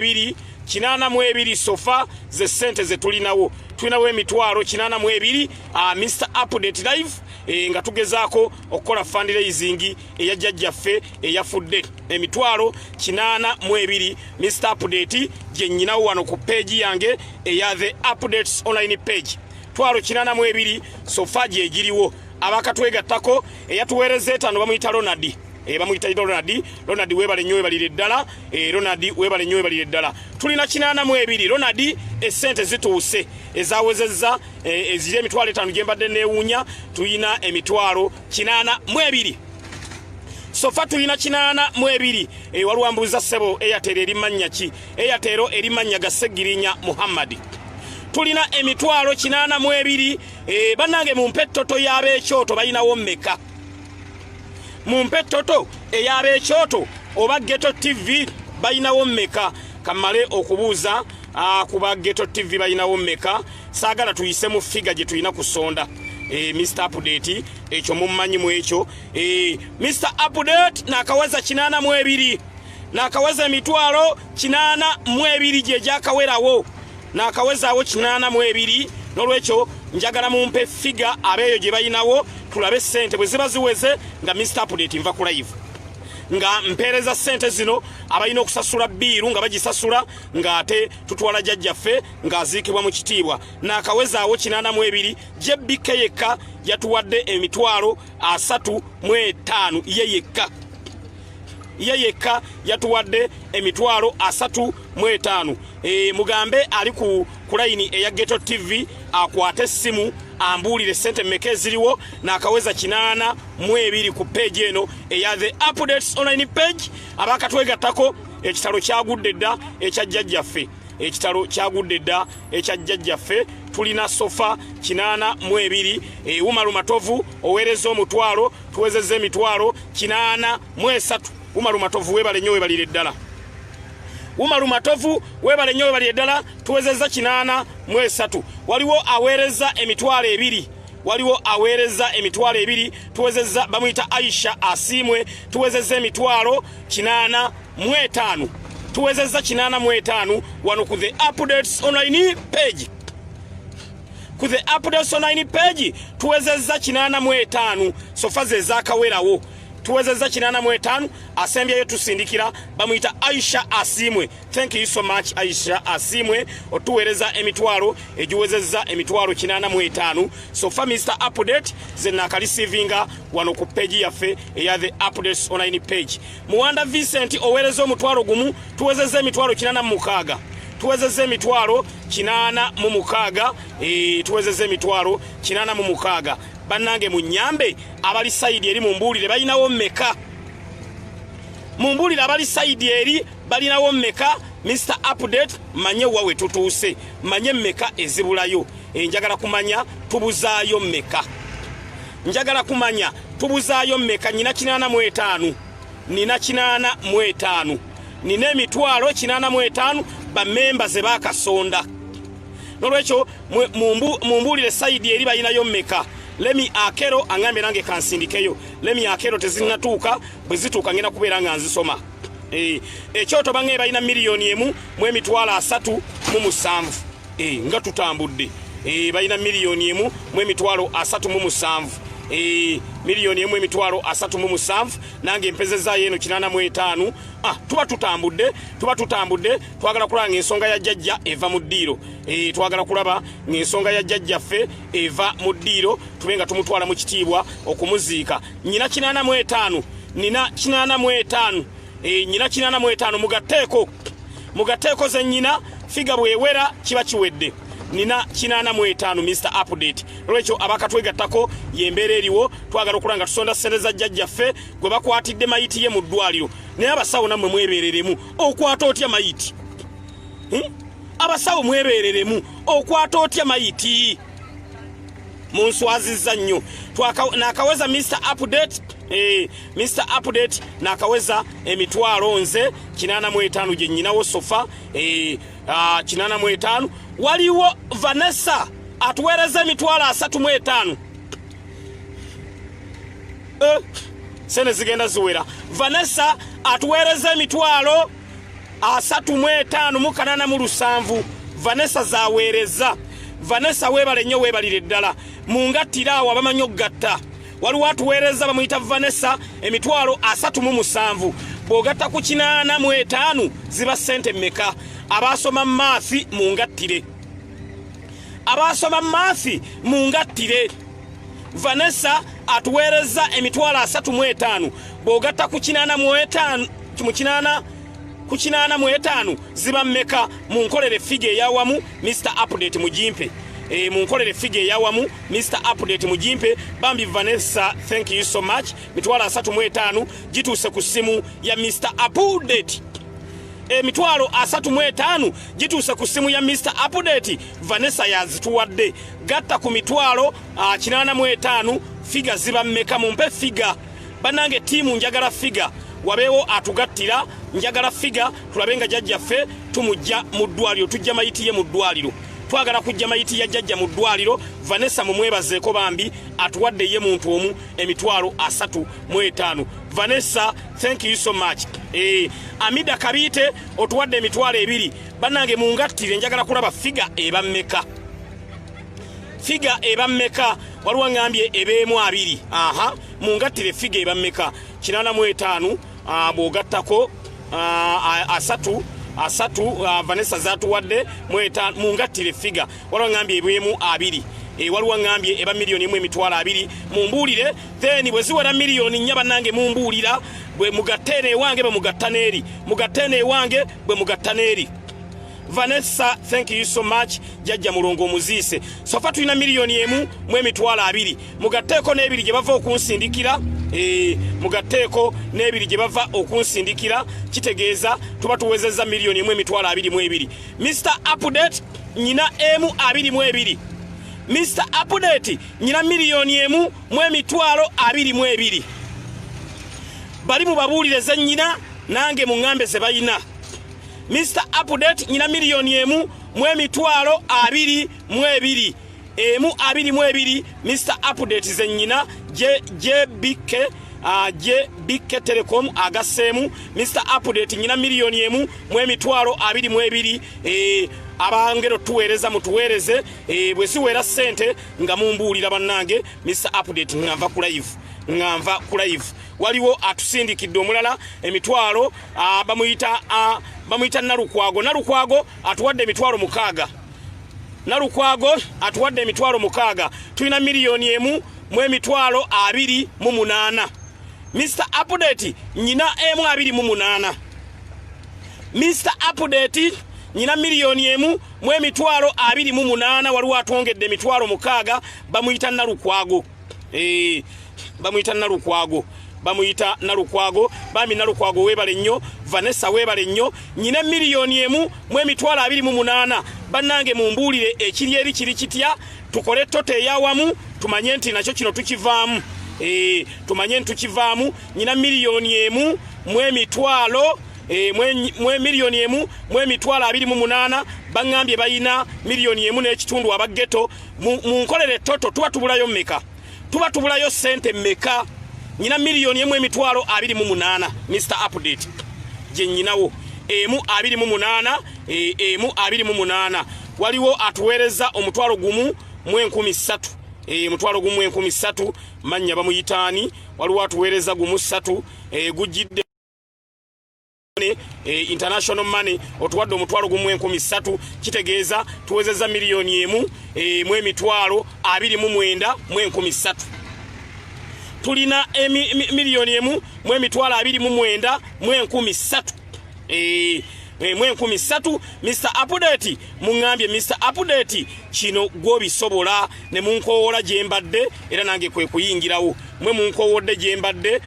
ebiri kinana mu ebiri sofa ze sente ze tulinawo tulinawo emitwalo kinana mu ebiri uh, Mr Update Live e, nga tugezaako okukola fundraising eya jjajjaffe eyafudde emitwalo kinana mu ebiri Mr Update gye nyinawo wano ku page yange eya the updates online page twalo kinana mu ebiri sofa gye giriwo abakatwegattako eyatuweereza etano bamuyita ronadi eh, bamuyita ronadi ronadi webale nyo webalire ddala eh, ronadi webale nyo webalire ddala tulina kinaana mu ebiri ronadi esente zituuse ezawezezza eh, eziri emitwalo etano gyembadde newuunya tulina emitwalo kinaana mu ebiri sofa tulina kinaana mu ebiri waliwo ambuuza sebo eyatero eri mannya ki eyatero eri mannya ga segirinya muhammadi tulina emitwalo kinaana mu ebiri Eh, banange mumpe ettoto y'abekyoto balinawo mmeka mumpe ettoto ey'abekyoto oba geto tv balinawo mmeka kammale okubuuza ah, ku ba geto tv balinawo mmeka saagala tuyise mu figa gye tulina kusonda eh, mr update ekyo mummanyi mu ekyo eh, mr update nakawaza kinaana mu ebiri nakawaza emitwalo kinaana mu ebiri gye gyakawerawo naakawezaawo kinaana mu ebiri n'olwekyo njagala mumpe figa abeeyo gye balinawo tulabe ssente bwe ziba ziweze nga mista apudate nva ku live nga mpeereza sente zino abalina okusasula biiru nga bagisasula ng'ate tutwala jajjaffe ng'aziikibwa mu kitiibwa naakawezaawo kinaana mu ebiri jbk yekka yatuwadde emitwalo asatu mu etaano ye yekka ye yekka yatuwadde emitwalo asatu mu etaano e, mugambe ali ku kulayini eya geto tv akwate essimu ambuulire sente meka eziriwo nakaweza kinaana mu ebiri ku peegi eno eya the updates online page abakatwegattako ekitalo kyagudde dda ekya jjajjaffe ekitalo kyagudde dda ekya jjajjaffe tulina sofa kinaana mu ebiri ewumalu matovu oweereza omutwalo tuwezezza emitwalo kinaana mu esatu umaru matovu webale nnyo webalire ddala umaru matovu webale nnyo webalire ddala tuwezezza kinaana mu esatu waliwo aweereza emitwalo ebiri waliwo aweereza emitwalo ebiri tuwezezza bamuyita aisha asiimwe tuwezezza emitwalo kinaana mu etaano tuwezezza kinaana mu etaano wano ku the updates online page ku the updates online page tuwezezza kinana mu etaano sofa ze zakawerawo tuwezezza kinana mu etaano asembyeyo tusindikira bamuyita aisha asimwe thank you so much aisha asimwe otuweereza emitwalo egiwezezza emitwalo kinana mu etaano sofa mr update ze nakalisivinga wano ku peji yaffe eya the updates online page Muwanda Vincent owereza omutwalo gumu tuwezezza emitwalo kinana mu mukaaga tuwezezza emitwalo kinana mu mukaaga e, tuwezezza emitwalo kinana mu mukaaga bannange mu nyambe abali sayidi eri mu mbuulire balinawo mmeka mu mbuulire abali sayidi eri balinawo mmeka mr update manye wa we tutuuse manye mmeka ezibulayo enjagala eh, kumanya tubuzaayo mmeka njagala kumanya tubuzaayo mmeka nina kinaana mu etaano nina kinaana mu etaano nina emitwalo kinaana mu etaano bamemba ze bakasonda nolwekyo mumbuulire sayidi eri balinayo mmeka lemi akero angambye nange kansindikeyo lemi akero tezinatuuka bwe zituuka ngenda kubeera nga nzisoma eh, ekyoto bangambye balina miliyoni emu mu emitwalo asatu mu musanvu e, nga tutambudde e, balina miliyoni emu mu emitwalo asatu mu musanvu e, miliyoni emu emitwalo asatu mu musanvu nange empezezaayo eno kinana mu etaano ah, tuba tutambudde tuba tutambudde twagala kulaba ngaensonga ya jjajja eva mu ddiiro e, twagala kulaba ngaensonga ya jjajjaffe eva mu ddiiro tube nga tumutwala mu kitiibwa okumuziika nyina kinana mu etaano nina kinana mu etaano e, nyina kinana mu etaano mugatteeko mugateeko ze nnyina figa bwewera kiba kiwedde nina kinaana mu etaano mr update lwekyo abakatwegattako yembeera eriwo twagala okulaba nga tusonda ssente za jjajjaffe gwe bakwatidde mayiti ye mu ddwaliro naye abasawo nammwe mwebeereremu okwata otya mayiti hmm? abasawo mwebeereremu okwata otya mayiti munswazizza nnyo nakaweza mr update eh, mr update nakaweza emitwalo nze kinana mu etaano gye nyinawo sofa eh, ah, kinana mu etaano waliwo vanessa atuweereza emitwalo asatu mu etaano eh, sene zigenda ziwera vanessa atuweereza emitwalo asatu mu etaano mu kanana mu lusanvu vanessa zaweereza vanessa weebale nnyo weebalire ddala mu ngattira awo abamanyi okugatta waliwo atuweereza bamuyita vanessa emitwalo asatu mu musanvu bw'ogatta ku kinaana mu etaano ziba ssente mmeka abaasoma maafi mu ngattire abaasoma maafi mu ngattire vanessa atuweerezza emitwalo asatu mu etaano bw'ogatta ku kinaana mu etaano mu kinaana ku kinaana mu etaano ziba mmeka mu nkolere figa eyawamu mr update mugimpe E, mu nkolere figa eyawamu mr update mugimpe bambi vanessa thank you so much mitwalo asatu mu etaano gituuse ku ssimu ya mr update emitwalo asatu mu etaano gituuse ku ssimu ya mr update vanessa yazituwadde gatta ku mitwalo ah, kinaana mu etaano figa ziba mmeka mumpe figa bannange ttiimu njagala figa wabeewo atugattira njagala figa tulabe nga jajjaffe tumujja mu ddwaliro tujja mayiti ye mu ddwaliro twagala kujja mayiti ya jajja mu ddwaliro vanessa mumwebazeeko bambi atuwadde ye muntu omu emitwalo asatu mu etaano vanessa thank you so much e, amida kabiite otuwadde emitwalo ebiri Banange mungattire njagala kulaba figa eba meka. Figa eba meka waliwo ngambye ebeemu abiri. Aha mungattire figa eba meka. Kinana mu etaanu ah, bw'ogattako ah, asatu asatu ah, Vanessa zatuwadde mu etaanu mungattire figa waliwo ngambye ebeemu abiri. Eh, waliwo ngambye eba miliyoni emu emitwalo abiri mumbuulire then bwe ziwera miliyoni nnya bannange mumbuulira bwe mugatte eno ewange bwe mugatta n'eri mugatte eno ewange bwe mugatta n'eri vanessa thank you so much jajja mulongo omuziise sofa tulina miliyoni emu mu emitwalo abiri mugatteeko n'ebiri gye bava okunsindikira eh, mugatteeko n'ebiri gye bava okunsindikira kitegeeza tuba tuwezezza miliyoni emu emitwalo abiri mu ebiri mr update nyina emu abiri mu ebiri mr update nyina miliyoni emu mu emitwalo abiri mu ebiri bali mu babuulire ze nnyina nange mu ŋŋambe ze balina mr update nyina miliyoni emu mu emitwalo abiri mu ebiri emu abiri mu ebiri mr update ze nnyina jbk aje bikke telecom agaseemu mr update nyina miliyoni emu mu emitwalo abiri mu ebiri e, abangero tuweereza mutuweereze e, bwe ziweera ssente nga mumbuulira bannange mr update nga nva ku live nga nva ku live waliwo atusindikidde omulala emitwalo bamuyita bamuyita nalukwago nalukwago atuwadde emitwalo mukaaga nalukwago atuwadde emitwalo mukaaga tulina miliyoni emu mu emitwalo abiri mu munaana mr update nyina emu abiri mu munaana mr update nyina miliyoni emu mu emitwalo abiri mu munaana waliwo atwongedde emitwalo mukaaga bamuyita nalukwago eh, bamuyita nalukwago bamuyita nalukwago bambi nalukwago webale nnyo vanessa webale nnyo nyina miliyoni emu mu emitwalo abiri mu munaana bannange mumbuulire ekiri eri kiri kitya tukole toto eyawamu tumanye nti nakyo kino tukivaamu eh, tumanye nti tukivaamu nyina miliyoni emu mu emitwalo Eh, mwe miliyoni emu mwe mitwalo abiri mu munana bangambye bayina miliyoni emu n'ekitundu aba geto mu nkolere toto tuba tubulayo meka tuba tubulayo sente meka nyina miliyoni emu emitwalo abiri mu munana mr update gye nyinawo emu abiri mu munana eh, emu abiri mu munana waliwo atuweereza omutwalo gumu mu enkumi ssatu eh, mutwalo gumu enkumi ssatu mannya bamuyitaani waliwo atuweereza gumu ssatu gujjidde E, international money otuwadde omutwalo gumu enkumi ssatu kitegeeza tuwezezza miliyoni emu e, mu emitwalo abiri mu mwenda mu enkumi ssatu tulina e, miliyoni emu mu emitwalo abiri mu mwenda mu enkumi ssatu mu enkumi ssatu mr apudeti muŋambye mr apudeti kino gwobisobola ne munkowoola gye mbadde era nange kwe kuyingirawo mwe munkowodde gye mbadde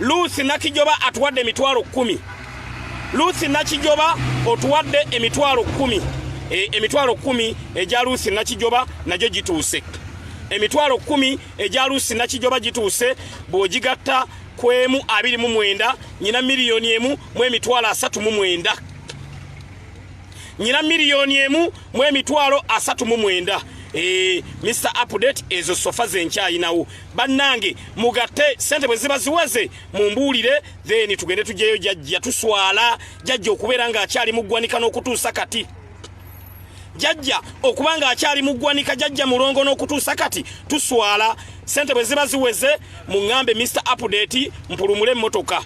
Luusi Nakijoba atuwadde emitwalo kkumi. Luusi Nakijoba otuwadde emitwalo kkumi. E, emitwalo kkumi egya Luusi Nakijoba nagyo gituuse. Emitwalo kkumi egya Luusi Nakijoba gituuse bw'ogigatta ku emu abiri mu mwenda nyina miliyoni emu mu emitwalo asatu mu mwenda. Nyina miliyoni emu mu emitwalo asatu mu mwenda. E, Mr. Update ezo sofa zenkyayinawo. bannange mugatte sente bwe ziba ziweze mumbuulire then tugende tujjeyo jajja tuswala jajja okubeera ng'akyali mu ggwanika n'okutuusa kati jajja okuba ng'akyali mu ggwanika jajja mulongo n'okutuusa kati tuswala sente bwe ziba ziweze muŋŋambe mr update mpulumule emmotoka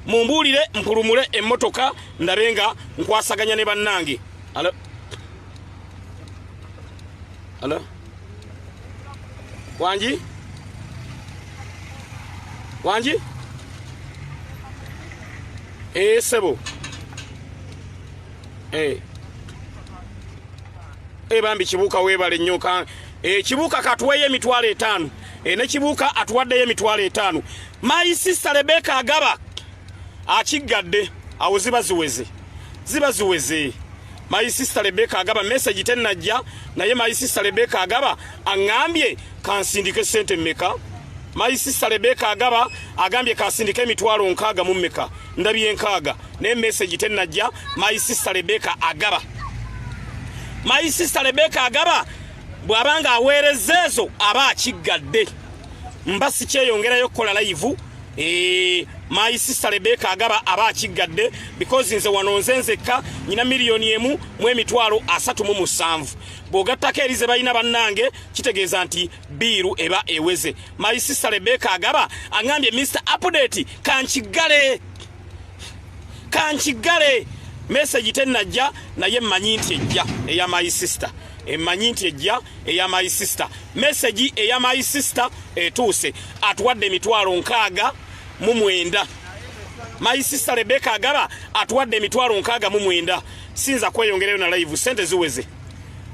mumbuulire mpulumule emmotoka ndabe nga nkwasaganya ne bannange alo alo Wanji? Wanji? Eh, sebo. Eh. Eh, bambi kibuka webale nnyo ka eh, kibuka katweye emitwalo etaano eh, ne kibuka atuwaddeyo emitwalo etaano my sister Rebecca Agaba akiggadde awo ziba ziweze ziba ziweze my sister Rebecca agaba message tenajja naye my sister Rebecca agaba angambye kansindike sente meka my sister Rebecca agaba agambye kansindike emitwalo nkaaga mu meka ndabye nkaaga ne message tenajja my sister Rebecca agaba my sister Rebecca agaba bwabanga aweereza ezo aba akiggadde mba sikyeyongerayo okukola layivu Eh, my sister Rebecca agaba aba akiggadde because nze wano nze nzekka nyina miliyoni emu mu emitwalo asatu mu musanvu bw'ogattako eri ze balina bannange kitegeeza nti biiru eba eweze my sister Rebecca agaba angambye Mr update kankiggale kankiggale message tennajja naye mmanyi nti ejja eya my sister emanyi eh, nti ejja eya my sister message eya my sister etuuse atuwadde emitwalo nkaaga mu mwenda my sister rebeka agaba atuwadde emitwalo nkaaga mu mwenda sinza kweyongerayo na live sente ziweze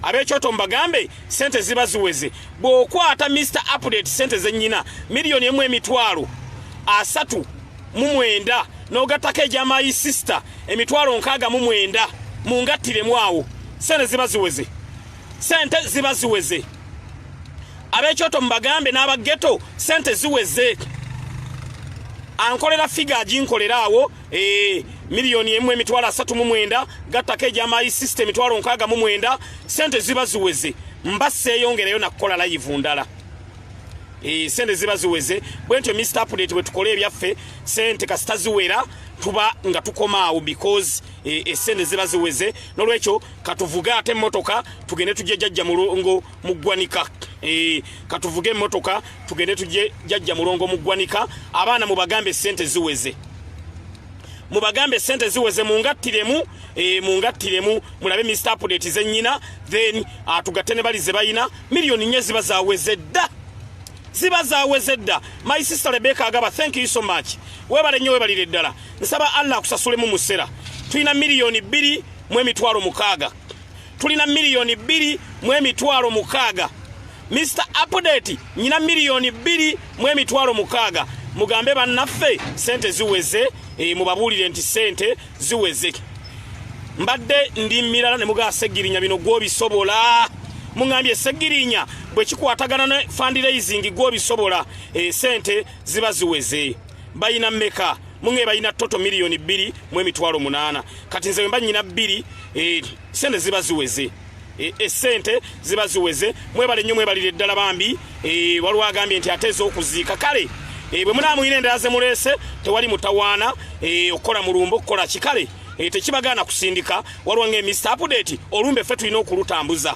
abekyoto mbagambe sente ziba ziweze bw'okwata mr update sente zenyina miliyoni emu emitwalo asatu mu mwenda n'ogattako egya my sister emitwalo nkaaga mu mwenda mu ngattiremu awo sente ziba ziweze sente ziba ziweze ab'ekyoto mubagambe n'aba geto sente ziweze ankolera figa aginkolera awo eh, miliyoni emu emitwalo asatu mu mwenda gattako egya my sister emitwalo nkaaga mu mwenda sente ziba ziweze mba seeyongereyo nakukola layivu ndala Eh, sente ziba ziweze bwentyo Mr. Update wetukole ebyaffe sente kasita ziwera tuba nga tukoma awo because eh, esente ziba ziweze nolwekyo katuvuge ate motoka tugende tujje jajja mulongo mugwanika eh, katuvuge motoka tugende tujje jajja mulongo mugwanika abaana mubagambe sente ziweze mubagambe sente ziweze mungattiremu e, mungattiremu mulabe mr apdate zenyina then atugatte ah, ne bali zebalina miliyoni nye ziba zaweze dda ziba zaweze dda my sister rebeka agaba thank you so much webale nnyo webalire ddala nsaba allah akusasulemu musera tulina miliyoni bbiri mu emitwalo mukaaga tulina miliyoni bbiri mu emitwalo mukaaga mr apdate nyina miliyoni bbiri mu emitwalo mukaaga mugambe bannaffe sente ziweze e, mubabuulire nti sente ziweze mbadde ndi mirala ne mugaa segirinya bino gwobisobola muŋambye segirinya bwe kikwatagana ne fundraising gwobisobola esente eh, ziba ziweze bayina meka muŋe bayina toto miliyoni bbiri mu emitwalo munaana kati nze wemba nyina bbiri eh, sente ziba ziweze E, esente ziba ziweze mwebale nnyo mwebalire ddala bambi e, waliwo agambye nti ate ez'okuziika kale e, bwe munaamuyina endala zemuleese tewali mutawaana okukola mulumba okukola kikale tekibagaana kusindika waliwo nga emist apudeti olumbe ffe tulina okulutambuza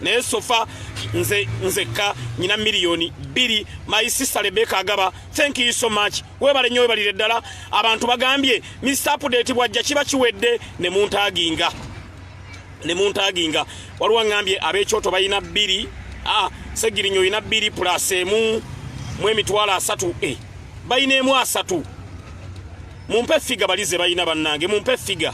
naye sofa nze nzekka nyina miliyoni bbiri my sister rebeka agaba thank you so much webale nnyo webalire ddala abantu bagambye mist apudeti bwajja kiba kiwedde ne muntaginga ne muntaginga waliwo aŋambye ab'ekyoto balina bbiri ah, segirinya olina bbiri plus emu mu emitwalo asatu e balina emu asatu mumpe figa bali ze balina bannange mumpe figa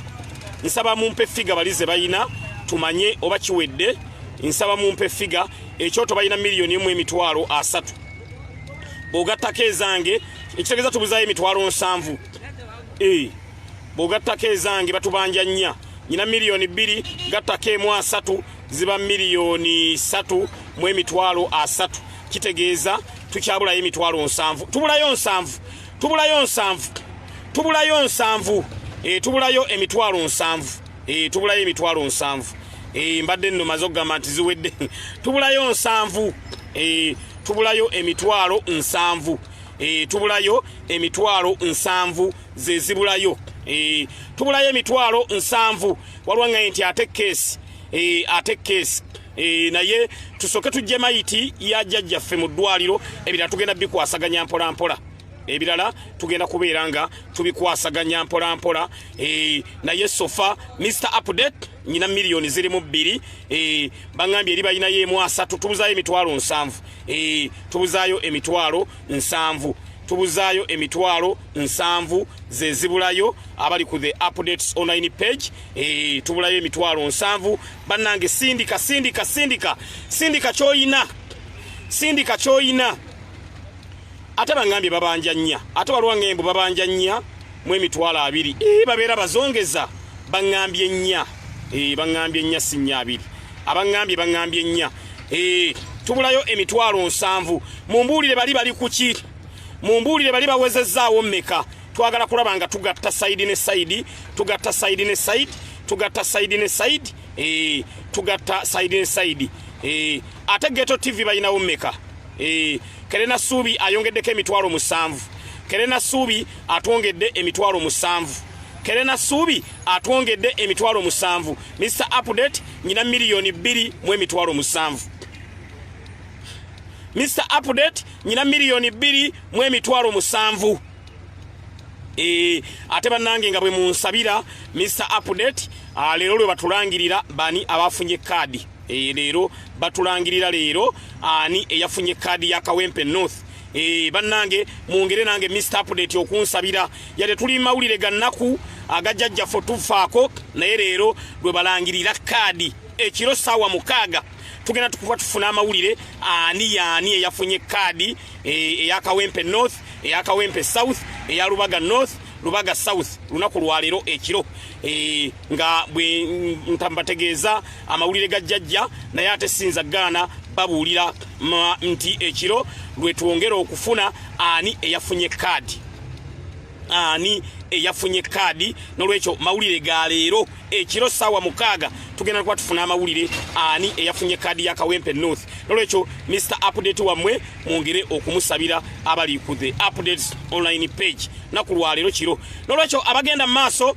nsaba mumpe figa bali ze balina tumanye oba kiwedde nsaba mumpe figa ekyoto balina miliyoni emu emitwalo asatu bwogattako ezange ekitegeeza tubuzayo emitwalo nsanvu e bwogattako ezange batubanja nnya nyina miliyoni bbiri gattako emu asatu ziba miliyoni satu mu emitwalo asatu kitegeeza tukyabulayo emitwalo nsanvu tubulayo nsanvu tubulayo nsanvu tubulayo nsanvu eh, tubulayo emitwalo nsanvu eh, tubulayo emitwalo nsanvu eh, mbadde nno maze okugamba nti ziwedde tubulayo nsanvu tubulayo emitwalo nsanvu tubulayo emitwalo nsanvu zezibulayo e, tubulayo emitwalo nsanvu waliwo nga nti ate keesi e, ate keesi e, naye tusooke tujje mayiti ya jjajjaffe mu ddwaliro ebirala tugenda bikwasaganya mpolampola ebirala tugenda kubeera nga tubikwasaganya mpolampola e, naye sofa mr update nyina milioni ziri mu bbiri e, bangambye eri balinayo emu asatu tubuzaayo emitwalo nsanvu e, tubuzaayo emitwalo nsanvu tubuzaayo emitwalo nsanvu zezibulayo abali ku the updates online page e, tubulayo emitwalo nsanvu bannange sindika sindika sindika sindika kyoyina sindika kyoyina ate bangambye babanja nnya ate waliwo ngembu babanja nnya mu emitwalo abiri ee eh, babeera bazongeza baŋŋambye ennya ee eh, baŋŋambye ennya si nnya abiri abaŋŋambye baŋŋambye ennya ee eh, tubulayo emitwalo nsanvu mumbuulire bali bali kuki mumbuulire bali bawezezzaawo mmeka twagala kulaba nga tugatta sayidi ne sayidi tugatta sayidi ne sayidi tugatta sayidi ne sayidi ee tugatta sayidi ne sayidi ee ate geto tv balinawo mmeka ee kerena suubi ayongeddeko emitwalo musanvu kerena suubi atwongedde emitwalo musanvu kerena suubi atwongedde emitwalo musanvu mr update nyina miliyoni bbiri mu emitwalo musanvu mr update nyina miliyoni bbiri mu emitwalo musanvu e, ate bannange nga bwe munsabira mr update ah, leero lwe batulangirira bani abafunye kaadi e, leero batulangirira leero ani eyafunye kaadi ya kawempe north Eh, bannange mwongere nange mr update okunsabira yade tuli mawulire gannaku agajajjaffe tufaako naye leero lwe balangirira kaadi ekiro saawa mukaaga tugenda tukuba tufuna amawulire ani yaani eyafunye kaadi eh, eyakawempe north eyakawempe south eya lubaga north lubaga south lunaku lwaleero ekiro eh, nga bwe ntambategeeza amawulire ga jjajja naye ate sinza gaana babuulira nti ekiro lwe twongera okufuna ani eyafunye kaadi ani eyafunye kaadi nolwekyo mawulire ga leero ekiro saawa mukaaga tugenda kuba tufuna amawulire ani eyafunye kaadi ya kawempe north nolwekyo mr update wammwe mwongere okumusabira abali ku the updates online page naku lwaleero kiro nolwekyo abagenda mu maaso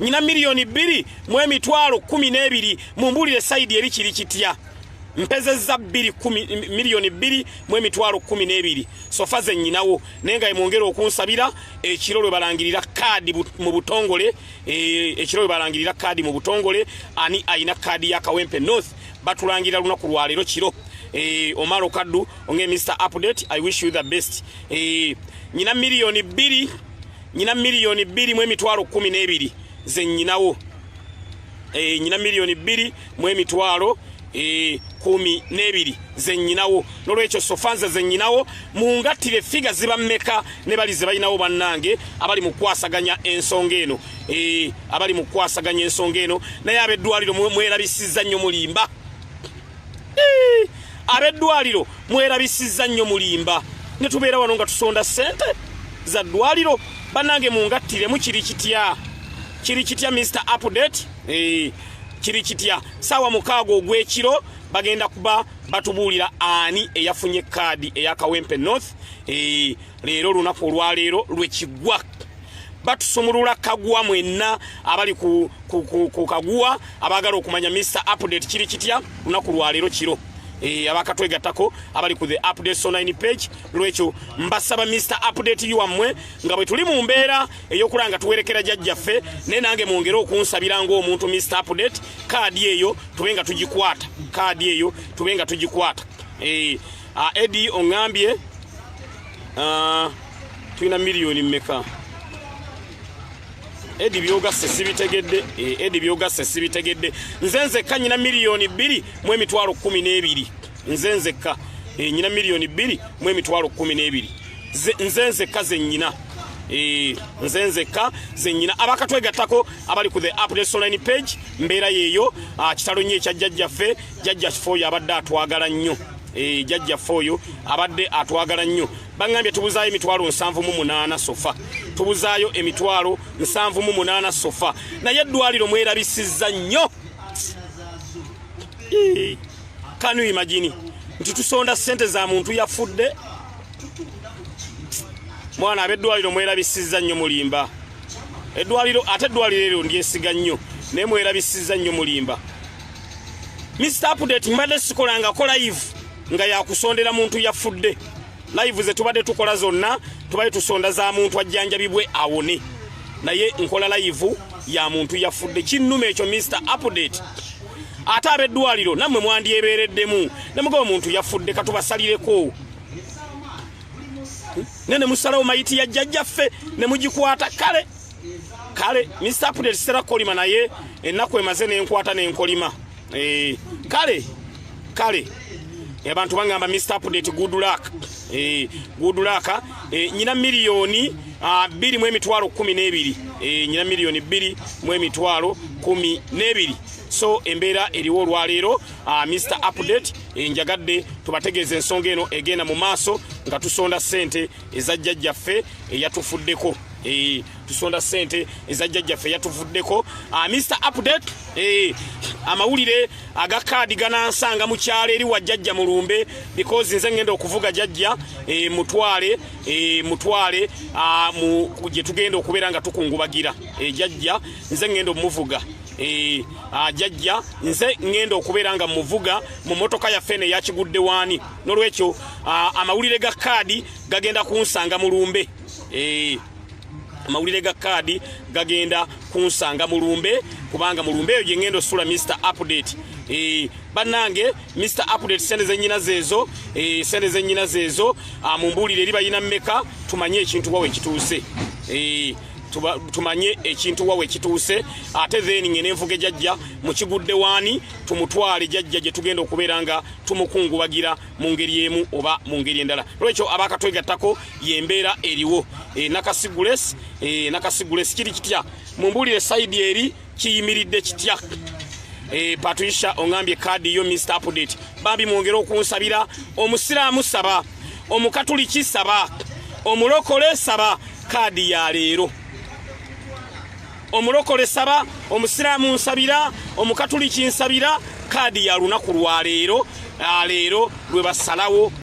nyina miliyoni bbiri mu emitwalo kumi n'ebiri mumbulire sayidi eri kiri kitya mpezezza bbiri miliyoni bbiri mu emitwalo kumi n'ebiri sofa ze nyinawo naye nga emwongera okunsabira ekiro lwe balangirira kaadi mu butongole eh, ekiro lwe balangirira kaadi mu butongole ani ayina kaadi ya kawempe north batulangira lunaku lwaleero kiro eh, omar okaddu onge mr update i wish you the best eh, nyina miliyoni bbiri nyina milioni bbiri mu emitwalo kumi n'ebiri ze nyinawo e, nyina milioni bbiri mu emitwalo e, kumi n'ebiri ze nyinawo nolwekyo sofanze ze nyinawo mungattire figa ziba mmeka ne bali ze balinawo bannange abali mu kukwasaganya ensonga eno e, abali mu kukwasaganya ensonga eno naye abeddwaliro mwerabisizza nnyo mulimba abeddwaliro mwerabisizza nnyo mulimba ne tubeera wano nga tusonda ssente za ddwaliro bannange mungattiremu kiri kitya kiri kitya mr update eh, kiri kitya saawa mukaaga ogw'ekiro bagenda kuba batubuulira ani eyafunye kaadi eyakawempe north eh, leero lunaku olwaleero lwekigwa batusumulula kaguwa mwenna abali ku, ku, ku, ku kaguwa abagala okumanya mr update kiri kitya lunaku lwaleero kiro e, abakatwegattako abali ku the update so 9 page lwekyo mbasaba mr update you wammwe nga bwe tuli mu mbeera ey'okulaba nga tuwerekera jajjaffe naye nange mwongere okunsabira ng'omuntu mr update kaadi eyo tube nga tugikwata kaadi eyo tube nga tugikwata e, Ah, Edi ongambye ah, tulina miliyoni mmeka? Edi byogasse sibitegedde, eh, Edi byogasse sibitegedde. Nze nzekka nyina miliyoni bbiri mu emitwalo kkumi n'ebiri. Nze nzekka eh, nyina miliyoni bbiri mu emitwalo kkumi n'ebiri. Nze nzekka ze nyina. Eh, nze nzekka ze nyina. Abakatwegattako abali ku the app ne online page mbeera yeeyo. Ah, kitalo nnyo ekya jjajjaffe, jjajja kifo yabadde atwagala nnyo. Eh, jajjaffe oyo abadde atwagala nnyo baŋambye tubuzaayo emitwalo nsanvu mu munaana sofa tubuzaayo emitwalo nsanvu mu munaana sofa naye eddwaliro mwerabisizza nnyo eh, kanu imagini nti tusonda ssente za muntu yafudde mwana abeddwaliro mwerabisizza nnyo mulimba eddwaliro ate eddwaliro eryo ndyesiga nnyo naye mwerabisizza nnyo mulimba Mr. Update mbadde sikolangako live nga yakusondera muntu yafudde live ze tubadde tukola zonna tubadde tusonda za muntu ajjanjabibwe awone naye nkola live ya muntu yafudde kinnuma ekyo Mr. Update ate abeddwaliro nammwe mwandyebeereddemu nemuga omuntu yafudde katubasalireko ne ne musalawo mayiti ya jjajjaffe ne mugikwata kale kale Mr. Prudence sera kolima naye ennaku emaze nenkwata nenkolima eh, kale kale abantu bangamba Mr. Prudence good luck eh, good luck eh, nyina milioni ah, biri mu emitwalo kumi n'ebiri eh, nyina milioni biri mu emitwalo kumi n'ebiri so embeera eriwo olwaleero ah, Mr. Update eh, njagadde tubategeeza ensonga eno egenda mu maaso nga tusonda ssente eza jjajjaffe eyatufuddeko eh, tusonda sente eza jjajjaffe eyatufuddeko ah, mr update eh, amawulire aga kaadi ganansanga mu kyalo eri wa jjajja mulumbe because nze ngenda okuvuga jajja eh, mutwale mutwale ah, gye tugenda okubeera nga tukungubagira jajja nze ngenda omuvuga Eh, ajajja nze ngenda okubeera nga muvuga mu motoka yaffe ne yakigudde waani nolwekyo ah, amawulire ga kaadi gagenda kunsanga mu lumbe eh, amawulire ga kaadi gagenda kunsanga mu lumbe kubanga mu lumbe eyo gye ngenda osula mr update eh, bannange mr update sente zenyina zeezo sente zenyina zeezo ah, mumbuulire eri bayina mmeka tumanye ekintu wawe kituuse tumanye ekintu wawe kituuse ate then ngene envuga ejajja mukigudde waani tumutwale jajja gye tugenda okubeera nga tumukungubagira mu ngeri emu oba mu ngeri endala olwekyo abakatwegattako yembeera eriwo e, nakasigules e, nakasigules kiri kitya mumbuulire saidi eri kiyimiridde kitya eh, patricia ongambye kaadi yo mr update bambi mwongere okunsabira omusiraamu saba omukatuliki saba omulokole saba kaadi ya leero omulokole saba omusiraamu nsabira omukatuliki nsabira kaadi ya lunaku lwa leero ah, leero lwe basalawo